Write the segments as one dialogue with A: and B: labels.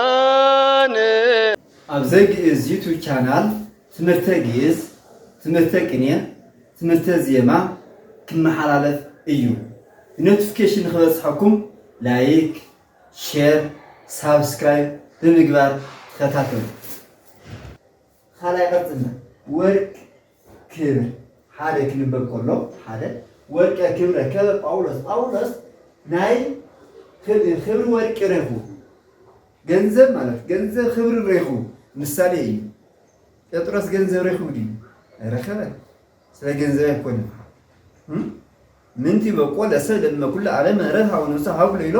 A: ኣግኣዝያን።
B: ኣብ ዘግእዝ ዩቱብ ቻናል ትምህርተ ግእዝ፣ ትምህርተ ቅኔ፣ ትምህርተ ዜማ ክመሓላለፍ እዩ። ብኖቲፊኬሽን ንክበፅሐኩም ላይክ፣ ሼር፣ ሳብስክራይብ ብምግባር ተኸታተሉ። ኻልኣይ ቀፅልና ወርቅ ክብር ሓደ ክንበብ ከሎ ሓደ ወርቀ ክብ ረከበ ጳውሎስ ጳውሎስ ናይ ክብሪ ወርቂ ረኹ ገንዘብ ማለት ገንዘብ ክብሪ ረኹ ምሳሌ እዩ ጴጥሮስ ገንዘብ ረኹ ድዩ ረከበ ስለ ገንዘብ ኣይኮነን ምንቲ በቆ ለሰ ለእመ ኩሉ ዓለም ምህረት ሀበ ነፍሰ ሀብ ለይሎ።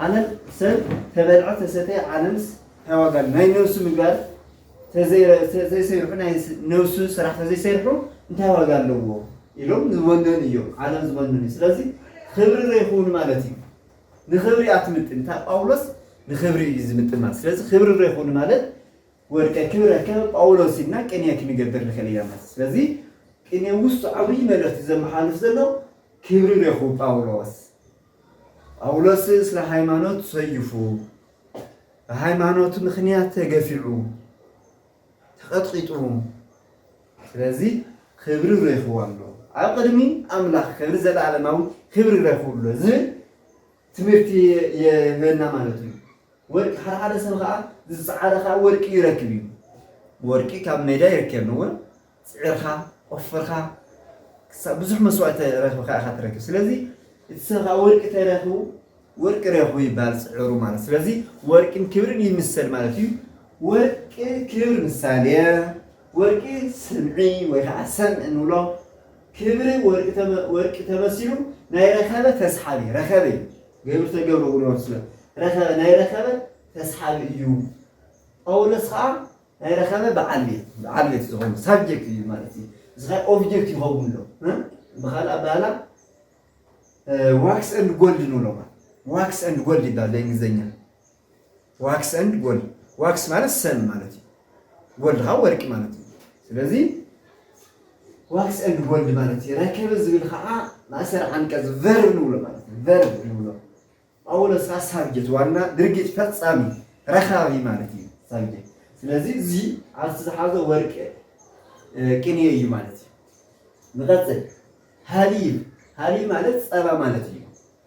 B: ዓለም ሰብ ተበልዐ ተሰተየ ዓለምስ ታይ ዋጋ ኣሎ ናይ ነብሱ ምግባር ተዘይሰሪሑ ናይ ነብሱ ስራሕ ተዘይሰሪሑ እንታይ ዋጋ ኣለዎ ኢሎም ዝወነኑ እዮም ዓለም ዝወነኑ እዩ ስለዚ ክብሪ ዘይክውን ማለት እዩ ንክብሪ ኣትምጥን እታ ጳውሎስ ንክብሪ እዩ ዝምጥን ማለት ስለዚ ክብሪ ዘይክውን ማለት ወድቀ ክብረከ ጳውሎስ ኢልና ቅኔ ክንገብር ንክእል ኢና ማለት ስለዚ ቅኔ ውስጡ ዓብይ መልእክቲ ዘመሓልፍ ዘሎ ክብሪ ረኹ ጳውሎስ ጳውሎስ ስለ ሃይማኖት ሰዩፉ ብሃይማኖቱ ምክንያት ተገፊዑ ተቐጥቂጡ ስለዚ ክብሪ ረኹ ኣሎ ኣብ ቅድሚ ኣምላኽ ከብሪ ዘለኣለማዊ ክብሪ ረኹ ኣሎ ዝብል ትምህርቲ የህበና ማለት እዩ። ወርቂ ሓደ ሓደ ሰብ ከዓ ዝፀዓረ ከዓ ወርቂ ይረክብ እዩ። ወርቂ ካብ ሜዳ ይርከብ እወ ፅዒርካ ቆፍርካ ክሳብ ብዙሕ መስዋእቲ ረኺብካ ኢኻ ትረክብ። ስለዚ እቲ ሰብ ከዓ ወርቂ ተረኽቡ ወርቂ ረኽቡ ይበሃል ፅዕሩ ማለት ስለዚ ወርቂን ክብርን ይምሰል ማለት እዩ። ወርቂ ክብር ምሳሌ ወርቂ ስምዒ ወይ ከዓ ሰምዒ ንብሎ። ክብሪ ወርቂ ተመሲሉ ናይ ረኸበ ተስሓቢ ረኸበ እዩ ገብሪ ተገብረ ጉልበቱ ስለ ረኸበ ናይ ረኸበ ተስሓቢ እዩ ጳውሎስ ከዓ ናይ ረኸበ በዓል ቤት በዓል ቤት ዝኾኑ ሳብጀክት እዩ ማለት እዩ እዚ ከዓ ኦብጀክት ይኸውን ኣሎ ብካልእ ኣባህላ ዋክስ ኤንድ ጎልድ ንብሎ ዋክስ ኤንድ ጎልድ ይባል በእንግሊዝኛ ዋክስ ኤንድ ጎልድ ዋክስ ማለት ሰም ማለት እዩ። ጎልድ ከዓ ወርቂ ማለት እዩ። ስለዚ ዋክስ ኤንድ ጎልድ ማለት እዩ። ረከበ ዝብል ከዓ ማእሰር ዓንቀጽ ቨርብ ንብሎ ማለት እዩ። ቨርብ ንብሎ ጳውሎስ ከዓ ሳብጀት ዋና ድርጊት ፈጻሚ ረካቢ ማለት እዩ ሳብጀት። ስለዚ እዚ ኣብቲ ዝሓዞ ወርቂ ቅንየ እዩ ማለት እዩ። ንቐጽል ሃሊብ ሃሊብ ማለት ጸባ ማለት እዩ።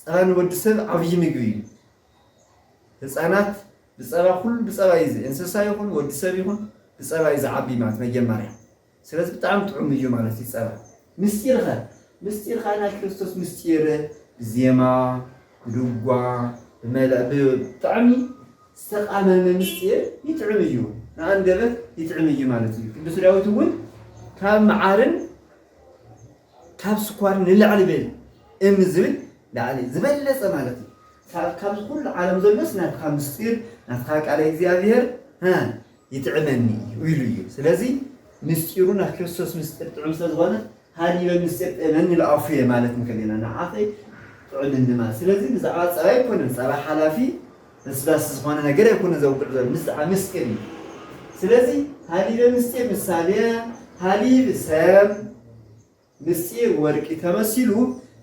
B: ፀባ ንወዲ ሰብ ዓብዪ ምግቢ እዩ። ህፃናት ብፀባ ኩሉ ብፀባ እዩ እንስሳ ይኹን ወዲ ሰብ ይኹን ብፀባ እዩ ዝዓቢ ማለት መጀመርያ ስለዚ ብጣዕሚ ጥዑም እዩ ማለት እዩ ፀባ። ምስጢር ኸ ምስጢር ኸዓ ናይ ክርስቶስ ምስጢር ብዜማ ብድጓ ብመላ ብጣዕሚ ዝተቃመመ ምስጢር ይጥዕም እዩ ንኣንደበት ይጥዕም እዩ ማለት እዩ። ቅዱስ ዳዊት እውን ካብ መዓርን ካብ ስኳር ንላዕሊ በይኑ እም ዝብል ላዕሊ ዝበለጸ ማለት እዩ። ሳብ ካብዚ ኩሉ ዓለም ዘሎስ ናትካ ምስጢር ናትካ ቃለ እግዚኣብሔር ሃ ይጥዕመኒ እዩ ኢሉ እዩ። ስለዚ ምስጢሩ ናይ ክርስቶስ ምስጢር ጥዑም ስለ ዝኾነ ሃሊበ ምስጢር ጥእመኒ ኢሉ ኣፉየ ማለት እንከሊና ንዓኺ ጥዑምኒ ማለት ስለዚ ብዛዕባ ጸባ ኣይኮነን ጸባ ሓላፊ በስባስ ዝኾነ ነገር ኣይኮነን ዘውግዕ ዘሎ ምስጣዕ ምስጢር እዩ ስለዚ ሃሊበ ምስጢር ምሳሌ ሃሊብ ሰብ ምስጢር ወርቂ ተመሲሉ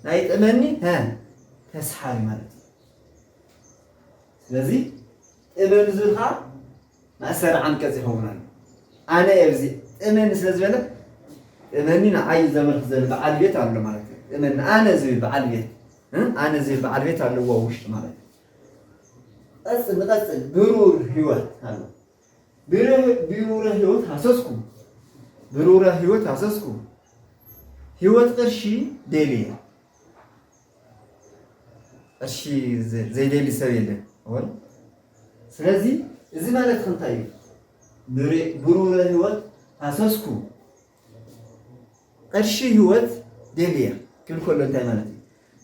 B: ናይ ጥመኒ ሀ ተስሓቢ ማለት እዩ ስለዚ ጥመን ዝኻ ማእሰር ዓንቀጽ ይኸውን ኣሎ ኣነ ኣብዚ ጥመኒ ስለ ዝበለ ጥመኒ ንዓይ ዘመልክ ዘሎ በዓል ቤት ኣሎ ማለት እዩ ጥመኒ ኣነ ዝብል በዓል ቤት ኣነ ዝብል በዓል ቤት ኣለዎ ውሽጢ ማለት እዩ ቀጽል ንቀጽል ብሩር ህይወት ኣሎ ብሩረ ህይወት ሃሰስኩ ብሩረ ህይወት ሃሰስኩ ህይወት ቅርሺ ደልየ ቅርሺ ዘይደሊ ሰብ የለን ሆን ስለዚ እዚ ማለት ክንታይ እዩ ብሩረ ህይወት ሃሰስኩ ቅርሺ ሂወት ደልየ ክብል ከሎ እንታይ ማለት እዩ?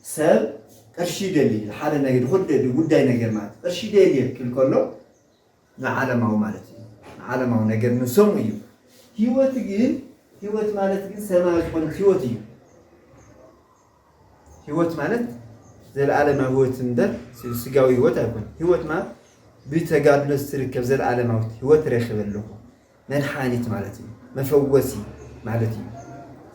B: ሰብ ቅርሺ ይደሊ ንሓደ ነገር ንኹሉ ጉዳይ ነገር ማለት እዩ። ቅርሺ ደልየ ክብል ከሎ ንዓለማዊ ማለት እዩ። ንዓለማዊ ነገር ንሰሙ እዩ። ሂወት ግን ሂወት ማለት ግን ሰማያዊ ዝኾነት ሂወት እዩ። ሂወት ማለት ዘለዓለማዊ ሂወት እምበር ስጋዊ ሂወት ኣይኮነን። ሂወት ማለት ብተጋድሎ ዝትርከብ ዘለዓለማዊት ሂወት ረኺበ ኣለኹ። መድሓኒት ማለት እዩ መፈወሲ ማለት እዩ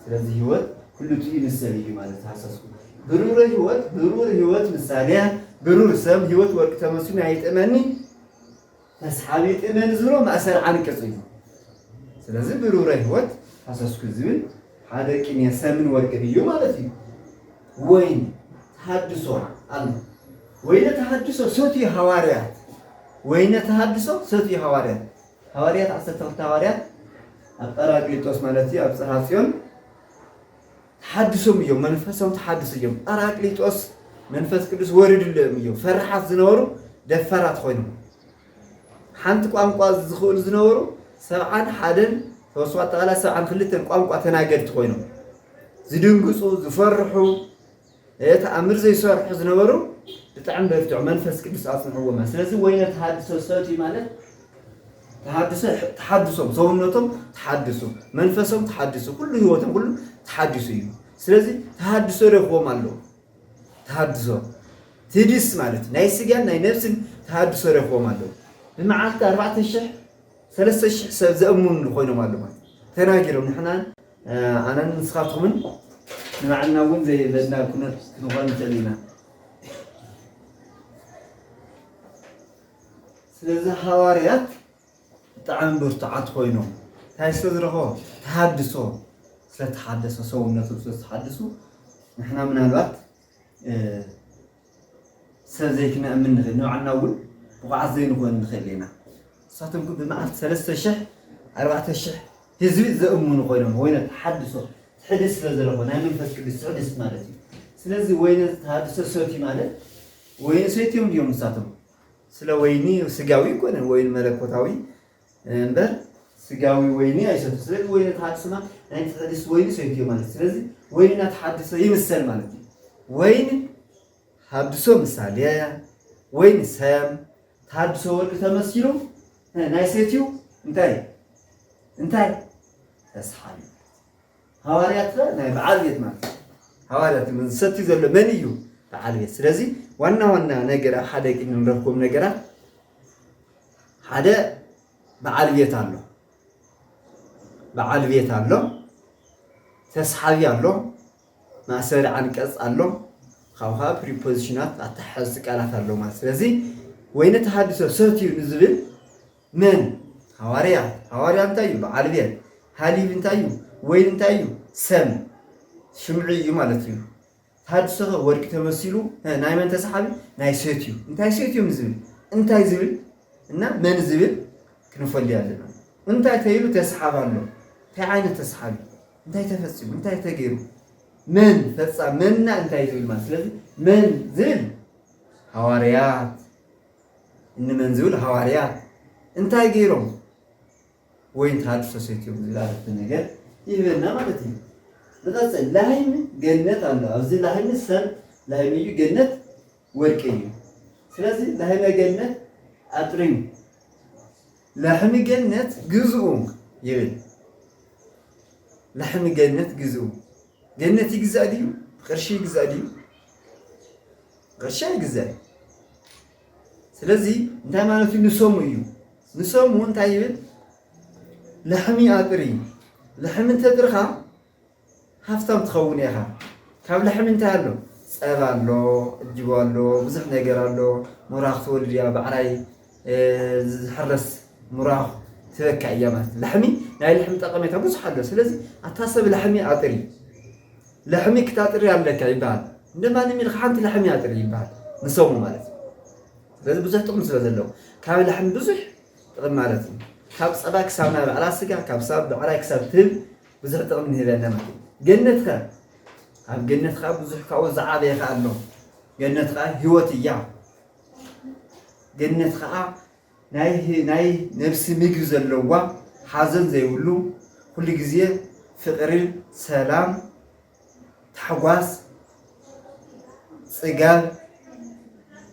B: ስለዚ ህይወት ኩሉቲ ንሰብ እዩ ማለት ተሃሰስኩ ብሩር ህይወት ብሩር ህይወት ምሳሌያ ብሩር ሰብ ህይወት ወርቂ ተመስሉ ናይ ጥመኒ ተስሓቢ ጥመን ዝሮ ማእሰር ዓንቅጽ እዩ ስለዚ ብሩረ ህይወት ሃሰስኩ ዝብል ሓደ ቅኔ ሰምን ወርቅን እዩ ማለት እዩ። ወይን ተሃድሶ ኣሎ። ወይነ ተሃድሶ ሰትዩ ሃዋርያት ወይነ ተሃድሶ ሰትዩ ሃዋርያት ሃዋርያት ዓሰርተ ክልተ ሃዋርያት ኣብ ጰራቅሊጦስ ማለት እዩ ኣብ ጽርሃ ጽዮን ተሓድሶም እዮም መንፈሳዊ ተሓድሶ እዮም ጰራቅሊጦስ መንፈስ ቅዱስ ወሪድሎም እዮም ፈራሓት ዝነበሩ ደፋራት ኮይኖም ሓንቲ ቋንቋ ዝኽእሉ ዝነበሩ ሰብዓን ሓደን ተወስኦ ኣጠቓላይ ሰብዓን ክልተን ቋንቋ ተናገድቲ ኮይኖም ዝድንግፁ ዝፈርሑ እየ ተኣምር ዘይሰርሑ ዝነበሩ ብጣዕሚ በርትዑ መንፈስ ቅዱስ ኣጽንዕዎማ ስለዚ ወይነ ተሃድሶ ሰትዩ ማለት ተሃድሶ ተሓድሶም ሰውነቶም ተሓድሱ መንፈሶም ተሓድሱ ኩሉ ህይወቶም ኩሉ ተሓድሱ እዩ ስለዚ ተሃድሶ ረክቦም ኣለዎ ተሃድሶ ትድስ ማለት ናይ ስጋን ናይ ነብስን ተሃድሶ ረክቦም ኣለዎ ብመዓልቲ ኣርባዕተ ሽሕ ሰለስተ ሽሕ ሰብ ዘእምኑ ኮይኖም ኣለዎ ተናጊሮም ንሕና ኣነን ንስኻትኩምን ንባዕልና እውን ዘየድለየና ኩነት ክንኾን ንኽእል ኢና። ስለዚ ሃዋርያት ብጣዕሚ ብርቱዓት ኮይኖም እንታይ ስለ ዝረኸቦም ተሃድሶ ስለተሓደሰ ሰውነቶም ስለ ዝተሓደሱ ንሕና ምናልባት ሰብ ዘይክነእምን ንኽእል ንባዕልና እውን ብቑዓት ዘይንኾን ንኽእል ኢና። ንሳቶም ግን ብመዓልቲ ሰለስተ ሽሕ ኣርባዕተ ሽሕ ህዝቢ ዘእምኑ ኮይኖም ወይነ ተሓድሶ ትሕድስ ስለ ዘለኹ ናይ መንፈስ ቅዱስ ትሕድስት ማለት እዩ። ስለዚ ወይነ ተሃድሶ ሰትዩ ማለት ወይኒ ሰትዮም ድዮም ንሳቶም? ስለ ወይኒ ስጋዊ ኣይኮነን ወይኒ መለኮታዊ እምበር ስጋዊ ወይኒ ኣይሰቱ ስለዚ ወይኒ ተሓድሱና ናይ ተሐድስ ወይኒ ሰይትዮ ማለት ስለዚ ወይንና ተሓድሶ ይምሰል ማለት እዩ ወይኒ ሃድሶ ምሳሌ ወይኒ ሰም ተሃድሶ ወርቂ ተመሲሉ ናይ ሰትዩ እንታይ እንታይ ተስሓሉ ሃዋርያት ናይ በዓል ቤት ማለት ሃዋርያት ዝሰትዩ ዘሎ መን እዩ በዓል ቤት ስለዚ ዋና ዋና ነገር ኣብ ሓደ ክንረክቦም ነገራት ሓደ በዓል ቤት ኣሎ በዓል ቤት ኣሎ ተስሓቢ ኣሎ ማሰሪ ዓንቀፅ ኣሎ ካብኡ ከዓ ፕሪፖዚሽናት ኣተሓሓዝቲ ቃላት ኣሎ ማለት ስለዚ ወይነ ተሃድሶ ሰትዩ ንዝብል መን ሃዋርያ ሃዋርያ እንታይ እዩ በዓል ቤት ሃሊብ እንታይ እዩ ወይን እንታይ እዩ ሰም ሽምዒ እዩ ማለት እዩ ታድሰኸ ወርቂ ተመሲሉ ሀ ናይ መን ተሰሓቢ ናይ ሰትዩ እንታይ ሰትዩ ንዝብል እንታይ ዝብል እና መን ዝብል ክንፈልዮ ኣለና እንታይ ተይሉ ተሰሓብ ኣሎ እንታይ ዓይነት ተሰሓቢ እንታይ ተፈፂሙ እንታይ ተገይሩ መን ፈፃ መንና እንታይ ዝብል ማለት ስለዚ መን ዝብል ሃዋርያት እንመን ዝብል ሃዋርያት እንታይ ገይሮም ወይ ተሃድሶ ሰትዮም ዝብል ዓረፍተ ነገር ይህበና ማለት እዩ። ንቐጽል፣ ላህይሚ ገነት ኣሎ። ኣብዚ ላህይሚ ሰም ላህይሚ እዩ፣ ገነት ወርቂ እዩ። ስለዚ ላህይመ ገነት ኣጥሪሙ ላሕሚ ገነት ግዝኡ ይብል። ላሕሚ ገነት ግዝኡ ገነት ይግዛእ ድዩ? ብቅርሺ ይግዛእ ድዩ? ቅርሺ ኣይግዛእን። ስለዚ እንታይ ማለት እዩ ንሰሙ እዩ ንሰሙ እንታይ ይብል ልሕሚ ኣጥሪ እዩ ልሕሚ እንተጥርኻ ሃፍታም ትኸውን ኢኻ ካብ ልሕሚ እንታይ ኣሎ ፀባ ኣሎ እጅቦ ኣሎ ብዙሕ ነገር ኣሎ ሙራኽ ትወልድ እያ ባዕራይ ዝሕረስ ሙራኽ ትበካ እያ ማለት ልሕሚ ናይ ልሕሚ ጠቐሜታ ብዙሕ ኣሎ ስለዚ ኣታ ሰብ ልሕሚ ኣጥሪ ለሕሚ ክታጥሪ ኣለካ ይበሃል እንደ ማንም ኢልካ ሓንቲ ለሕሚ ኣጥሪ ይበሃል ንሰሙ ማለት እዩ ስለዚ ብዙሕ ጥቕሚ ስለ ዘለዎ ካብ ለሕሚ ብዙሕ ጥቕሚ ማለት እዩ ካብ ፀባ ክሳብ ናይ ባዕላ ስጋ ካብ ሳብ ብዕራይ ክሳብ ትህብ ብዙሕ ጥቕሚ ንህብ ኣለና ማለት እዩ ገነት ከ ኣብ ገነት ከዓ ብዙሕ ካብኡ ዝዓበየ ከዓ ኣሎ ገነት ከዓ ህይወት እያ ገነት ከዓ ናይ ነብሲ ምግቢ ዘለዋ ሓዘን ዘይብሉ ኩሉ ግዜ ፍቅሪ ሰላም ታሕጓስ ጽጋብ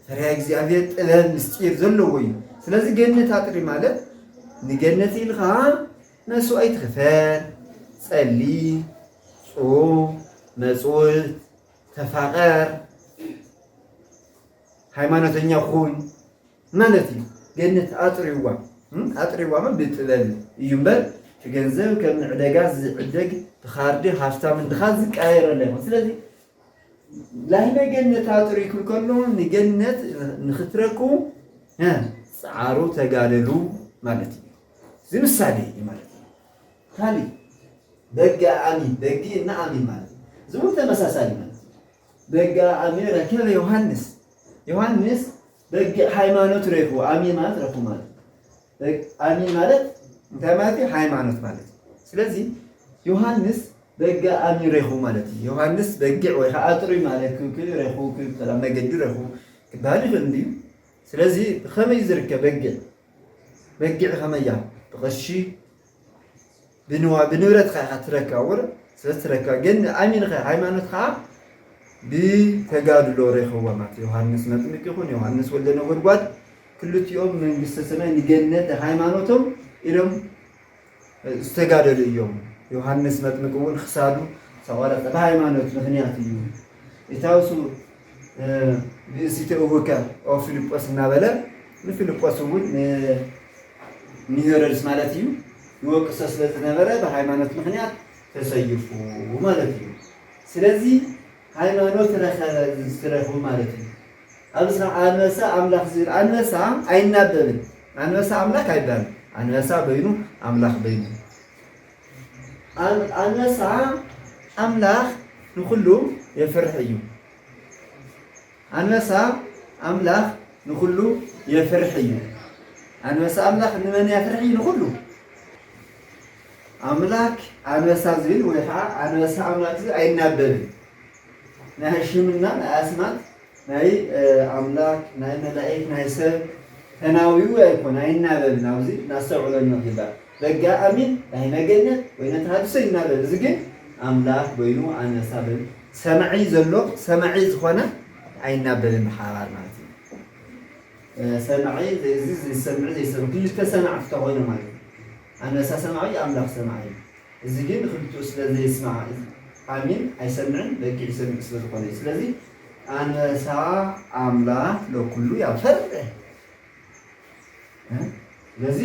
B: ፈሪሃ እግዚኣብሔር ጥበብ ምስጢር ዘለዎ እዩ ስለዚ ገነት ኣጥሪ ማለት ንገነት ኢልካ መስዋእቲ ክፈል ጸሊ ጹም መጽውት ተፋቀር ሃይማኖተኛ ኩን ማለት እዩ ገነት ኣጥርይዋ ኣጥርይዋ እሞ ብጥበብ እዩ እምበር እቲ ገንዘብ ከም ንዕደጋ ዝዕደግ ብካርዲ ሃፍታም ን ድኻን ዝቀያየር ኣለ ኣይኮን ስለዚ ላህመ ገነት ኣጥርይኩም ከሎ ንገነት ንክትረክቡ ጸዓሩ ተጋደሉ ማለት እዩ እዚ ምሳሌ እዩ ማለት እዩ ካሊእ በጋ ኣሚ በጊ እና ኣሚ ማለት እዚ እውን ተመሳሳሊ ማለት እዩ በጋ ኣሚ ረከበ ዮሃንስ ዮሃንስ በጊዕ ሃይማኖት ሬፉ ኣሚን ማለት ረፉ ማለት ኣሚን ማለት እንታይ ማለት እዩ? ሃይማኖት ማለት እዩ። ስለዚ ዮሃንስ በጊዕ ኣሚን ሬኹ ማለት እዩ። ዮሃንስ በጊዕ ወይ ከዓ ጥሩይ ማለት ሬኹ ሰላም መገዲ ሬኹ ክበሃል ይኽእል እንድዩ። ስለዚ ብኸመይ ዝርከብ በጊዕ በጊዕ ኸመያ ብቐሺ ብንዋ ብንብረትካ ኢኻ ትረካ ወረ ስለ ትረካ ግን ኣሚንኸ ሃይማኖት ከዓ ብተጋድሎ ሬኸዋ ማለት ዮሃንስ መጥምቅ ይኹን ዮሃንስ ወልደ ነጎድጓድ ክልቲኦም መንግስተ ሰማይ ንገነት ሃይማኖቶም ኢሎም ዝተጋደሉ እዮም ዮሃንስ መጥምቅ እውን ክሳዱ ተቆረፀ ብሃይማኖት ምክንያት እዩ ኢታውሱ ብእሲቶ እሁከ ኦ ፊልጶስ እናበለ ንፊልጶስ እውን ንሄሮድስ ማለት እዩ ይወቅሶ ስለዝነበረ ብሃይማኖት ምክንያት ተሰይፉ ማለት እዩ። ስለዚ ሃይማኖት ረኸበ ዝረኽቡ ማለት እዩ። ኣብዚ ከዓ ኣንበሳ ኣምላኽ ዝብል ኣንበሳ ኣይናበብን ኣንበሳ ኣምላክ ኣይባልም ኣንበሳ በይኑ ኣምላኽ በይኑ ኣንበሳ ኣምላኽ ንኹሉ የፍርሕ እዩ። ኣንበሳ ኣምላኽ ንኹሉ የፍርሕ እዩ። ኣንበሳ ኣምላኽ ንመን የፍርሕ እዩ? ንኹሉ ኣምላክ ኣንበሳ ዝብል ወይ ከዓ ኣንበሳ ኣምላክ ዝብል ኣይናበብን። ናይ ሕሽምና ናይ ኣስማት ናይ ኣምላክ ናይ መላኢክ ናይ ሰብ ተናዊኡ ኣይኮን ኣይናበብን ኣውዚ ናስተውዕሎ ንኺባር በጋ ኣሚን ዳሂመ ገነት ወይነ ተሃድሶ ይናበብ እዚ ግን ኣምላክ በይኑ ኣነሳ በል ሰማዒ ዘሎ ሰማዒ ዝኾነ ኣይናበብን ብሓባር ማለት እዩ ሰማዒ እዚ ዝሰምዕ ዘይሰምዕ ክልተ ሰማዕቲ ተኾይኖም ማለት እዩ ኣነሳ ሰማዒ ኣምላክ ሰማዒ እዩ እዚ ግን ንክልቲኡ ስለ ዘየስማዕ ኣሚን ኣይሰምዕን በጊዕ ይሰምዕ ስለ ዝኮነ እዩ ስለዚ ኣንበሳ ኣምላክ ለኩሉ ያፈርህ ስለዚ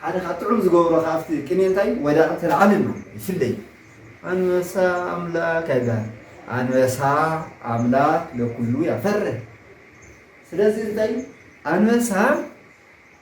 B: ሓደ ካብ ጥዑም ዝገብሮ ካብቲ ቅኔ እንታይ እዩ ወዳቂ ተልዓልን ነው ይፍለይ ኣንበሳ ኣምላክ ኣይበሃል ኣንበሳ ኣምላክ ለኩሉ ያፈርህ ስለዚ እንታይ ኣንበሳ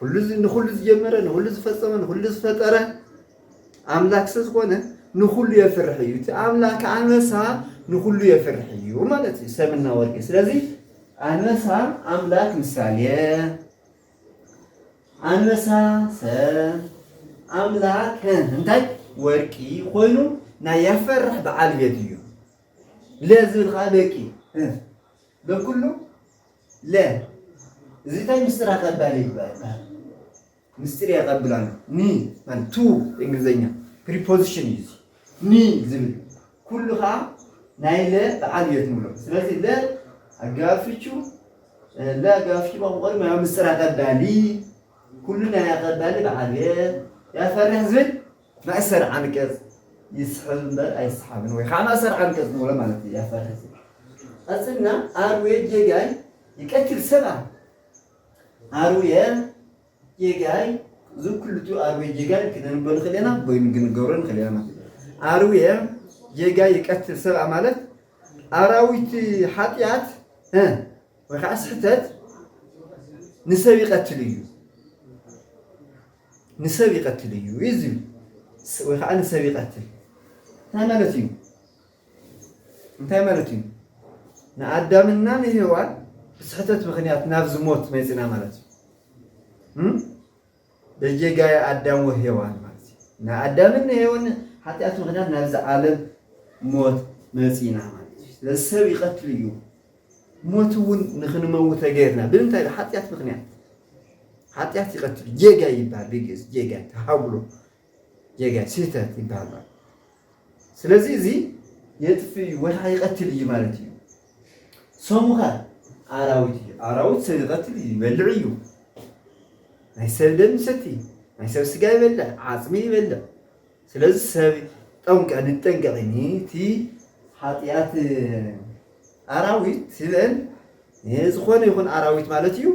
B: ኩሉ ንኹሉ ዝጀመረ ንኹሉ ዝፈጸመ ንኹሉ ዝፈጠረ ኣምላክ ስለ ዝኾነ ንኹሉ የፍርሕ እዩ እቲ ኣምላክ ኣንበሳ ንኹሉ የፍርሕ እዩ ማለት እዩ ሰብና ወርቂ ስለዚ ኣንበሳ ኣምላክ ምሳሌ ኣንበሳ ሰብ ኣምላክ እንታይ ወርቂ ኮይኑ ናይ ያፈርሕ በዓል ቤት እዩ ለዝብል ከዓ በቂ በኩሉ ለ። እዚ ታይ ምስጢር ኣቀባሊ ይበሃል። ምስጢር የቐብል ኣሎ። ን ማለት to እንግሊዘኛ ፕሪፖዚሽን እዩ እዚ ን ዝብል ኩሉ ኸኣ ናይ ለ በዓል ቤት ንብሎ። ስለዚ ለ ኣገባብ ፍቹ ለ ኣገባብ ፍቹ መቐቆሪ ማለት ምስጢር ኣቀባሊ ኩሉ ናይ ኣቀባሊ በዓል ቤት ያፈርሕ ዝብል መእሰሪ ዓንቀጽ ይስሕብ እምበር ኣይሰሓብን ወይ ኸዓ መእሰሪ ዓንቀጽ ንብሎ ማለት እዩ እያ ፈረስ ቀጽልና ኣርዌ ጌጋይ ይቀትል ሰብኣይ ኣርዌ ጌጋይ እዚ ኩሉቱ ኣርዌ ጌጋይ ክነንቦ ንኽእል ኢና ወይም ክንገብሮ ንኽእል ኢና ማለት እዩ ኣርዌ ጌጋይ ይቀትል ሰብኣ ማለት ኣራዊት ሓጢኣት ወይ ከዓ ስሕተት ንሰብ ይቀትል እዩ ንሰብ ይቀትል እዩ ኢዩ ወይ ከኣ ንሰብ ይቀትል እንታይ ማለት እዩ እንታይ ማለት እዩ ንኣዳምና ንሄዋን ብስሕተት ምክንያት ናብዚ ሞት መጺና ማለት እዩ እም በጌጋየ ኣዳም ወሄዋን ማለት እዩ ንኣዳምን ንሄዋን ሓጢኣት ምክንያት ናብዚ ዓለም ሞት መጺና ማለት እዩ ስለዚ ሰብ ይቀትል እዩ ሞት እውን ንክንመውት ተገይርና ብምንታይ ብሓጢኣት ምክንያት ሓጢኣት ይቀትል ጌጋይ ይበሃል ብግእዝ ጌጋይ ተሃጉሎ ጌጋይ ስህተት ይበሃል ማለት ስለዚ እዚ የጥፍ እዩ ወድሓ ይቀትል እዩ ማለት እዩ ሰሙኸ ኣራዊት እዩ ኣራዊት ሰብ ይቀትል እዩ ይበልዕ እዩ ናይ ሰብ ደም ይሰቲ ናይ ሰብ ስጋ ይበልዕ ዓፅሚ ይበልዕ ስለዚ ሰብ ጠንቀ ንጠንቀቂ ንቲ ሓጥያት ኣራዊት ህበን ንዝኾነ ይኹን ኣራዊት ማለት እዩ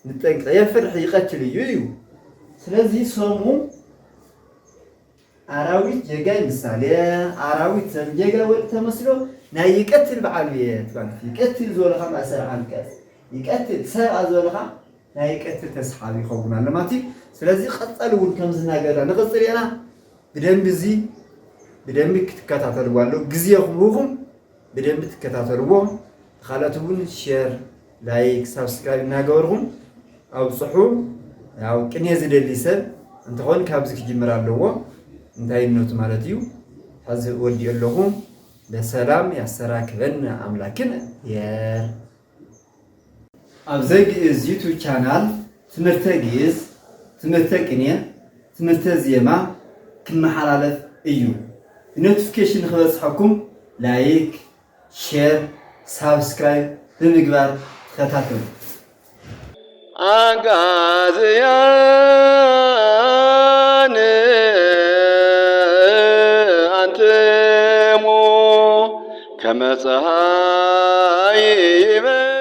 B: ንጠንቀ የፍርሕ ይቀትል እዩ እዩ ስለዚ ሰሙ ኣራዊት ጀጋይ ምሳሌ ኣራዊት ሰብ ጀጋይ ወዲ ተመስሎ ናይ ይቀትል በዓሉ እየ ትባል ይቀትል ዝበልኻ ማእሰር ዓንቀጽ ይቀትል ሰብኣ ዝበልኻ ናይ ቀትሪ ተስሓቢ ይኸውን ኣሎ ማለት እዩ። ስለዚ ቀጸሊ እውን ከምዚ እናገበርና ንቕጽል ኢና። ብደንቢ እዚ ብደንቢ ክትከታተልዎ ኣሎ ግዜ ክህቡኹም ብደንቢ ትከታተልዎ። ካልኦት እውን ሼር፣ ላይክ፣ ሳብስክራይብ እናገበርኹም ኣብፅሑ። ያው ቅኔ ዝደሊ ሰብ እንትኾን ካብዚ ክጅምር ኣለዎ እንታይነቱ ማለት እዩ። ሕዚ ወዲኦ ኣለኹ። ለሰላም ያሰራክበን ኣምላክን የር ኣብ ዘግእዝ ዩቱብ ቻናል ትምህርተ ግእዝ፣ ትምህርተ ቅኔ፣ ትምህርተ ዜማ ክመሓላለፍ እዩ። ብኖቲፊኬሽን ንክበፅሐኩም ላይክ፣ ሼር፣ ሳብስክራይብ ብምግባር ተኸታተሉ።
A: ኣግኣዝያን ኣንትሙ ከመ ፀሃይ ይበርሁ።